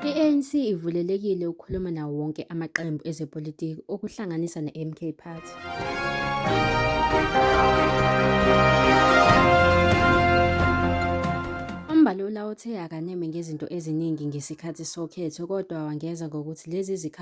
I-ANC ivulelekile ukukhuluma nawo wonke amaqembu ezepolitiki okuhlanganisa ne-MK Party. UMbalula uthe akaneme ngezinto eziningi ngesikhathi sokhetho kodwa wangeza ngokuthi lezi zikhathi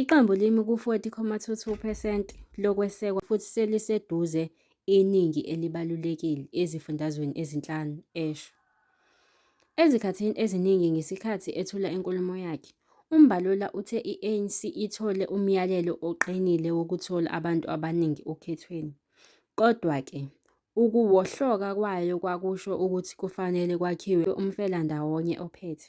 Iqembu limi ku-40.22 percent lokwesekwa futhi seliseduze iningi elibalulekile ezifundazweni ezinhlanu, esho. Ezikhathini eziningi ngesikhathi ethula inkulumo yakhe, uMbalula uthe i-ANC ithole umyalelo oqinile wokuthola abantu abaningi okhethweni. Kodwa-ke, ukuwohloka kwayo kwakusho ukuthi kufanele kwakhiwe umfelandawonye ophethe.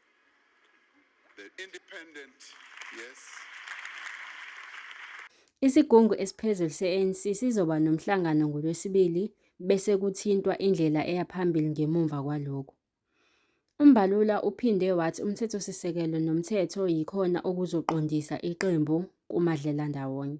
Isigungu esiphezulu se-ANC sizoba nomhlangano ngoLwesibili bese kuthintwa indlela eya phambili ngemuva kwalokho. UMbalula uphinde wathi umthethosisekelo nomthetho yikhona okuzoqondisa iqembu kumadlelandawonye.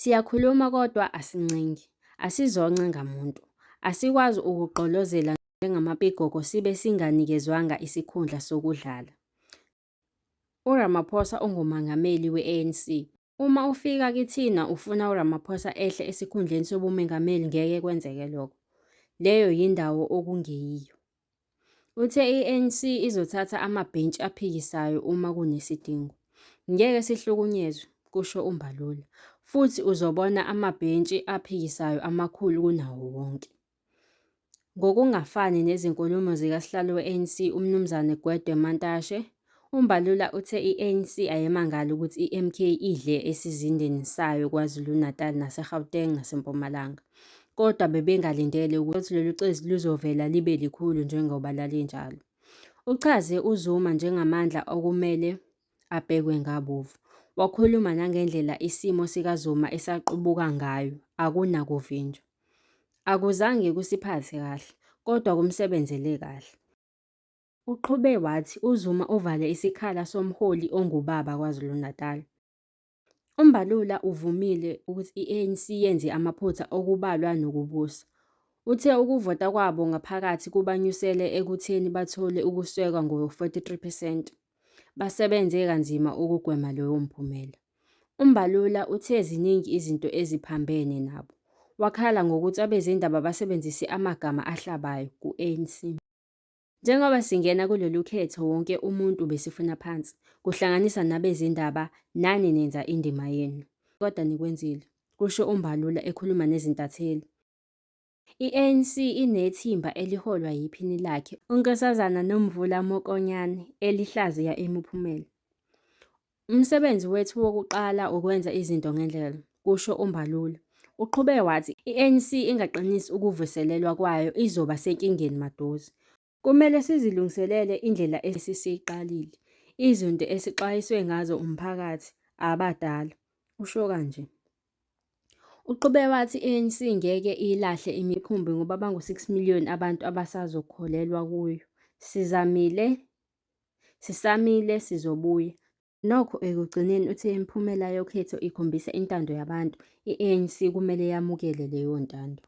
Siyakhuluma kodwa asincengi, asizonce ngamuntu. Asikwazi ukugqolozela njengamapigogo sibe singanikezwanga isikhundla sokudlala. URamaphosa unguMangameli we-ANC. Uma ufika kithina ufuna uRamaphosa ehle esikhundleni sobumengameli ngeke kwenzeke lokho. Leyo yindawo okungeyiyo. Uthe i-ANC izothatha amabhentshi aphikisayo uma kunesidingo. Ngeke sihlukunyezwe, kusho uMbalula. Futhi uzobona amabhentshi aphikisayo amakhulu kunawo wonke. Ngokungafani nezinkulumo zikasihlalo we-ANC uMnumzane Gwede Mantashe, UMbalula uthe i-ANC ayemangali ukuthi iMK idle esizindeni sayo KwaZulu-Natal naseGauteng naseMpumalanga. Kodwa bebengalindele ukuthi lolu cezi luzovela libe likhulu njengoba lalinjalo. Uchaze uZuma njengamandla okumele abhekwe ngabovu. Wakhuluma nangendlela isimo sikaZuma esaqubuka ngayo, akunakuvinjwa. Akuzange kusiphathe kahle, kodwa kumsebenzele kahle. Uqhube wathi uZuma uvale isikhala somholi ongubaba KwaZulu-Natal. UMbalula uvumile ukuthi i-ANC yenze amaphutha okubalwa nokubusa. Uthe ukuvota kwabo ngaphakathi kubanyusele ekutheni bathole ukuswekwa ngo-43 percent. Basebenze kanzima ukugwema lowo mphumela. UMbalula uthe ziningi izinto eziphambene nabo. Wakhala ngokuthi abezindaba basebenzise amagama ahlabayo ku-ANC. Njengoba singena kulolu khetho wonke umuntu besifuna phansi, kuhlanganisa nabezindaba nani nenza indima yenu. Kodwa nikwenzile, kusho uMbalula ekhuluma nezintatheli. I-ANC inethimba eliholwa yiphini lakhe uNkosazana Nomvula Mokonyane elihlaziya imiphumela. Umsebenzi wethu wokuqala ukwenza izinto ngendlela, kusho uMbalula. Uqhube wathi i-ANC ingaqinisi ukuvuselelwa kwayo izoba senkingeni maduze. Kumele sizilungiselele indlela esisiyiqalile, izinto esixwayiswe ngazo umphakathi, abadala, usho kanje. Uqhube wathi i-ANC ngeke iyilahle imikhumbi ngoba bangu-6 million abantu abasazokholelwa kuyo. Sizamile Sisamile sizobuya. Nokho ekugcineni uthe imiphumela yokhetho ikhombisa intando yabantu, i-ANC kumele yamukele leyo ntando.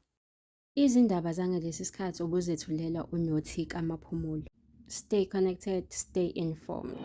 Izindaba zangalesi sikhathi obuzethulela uNyothi kaMaphumulo. Stay connected, stay informed.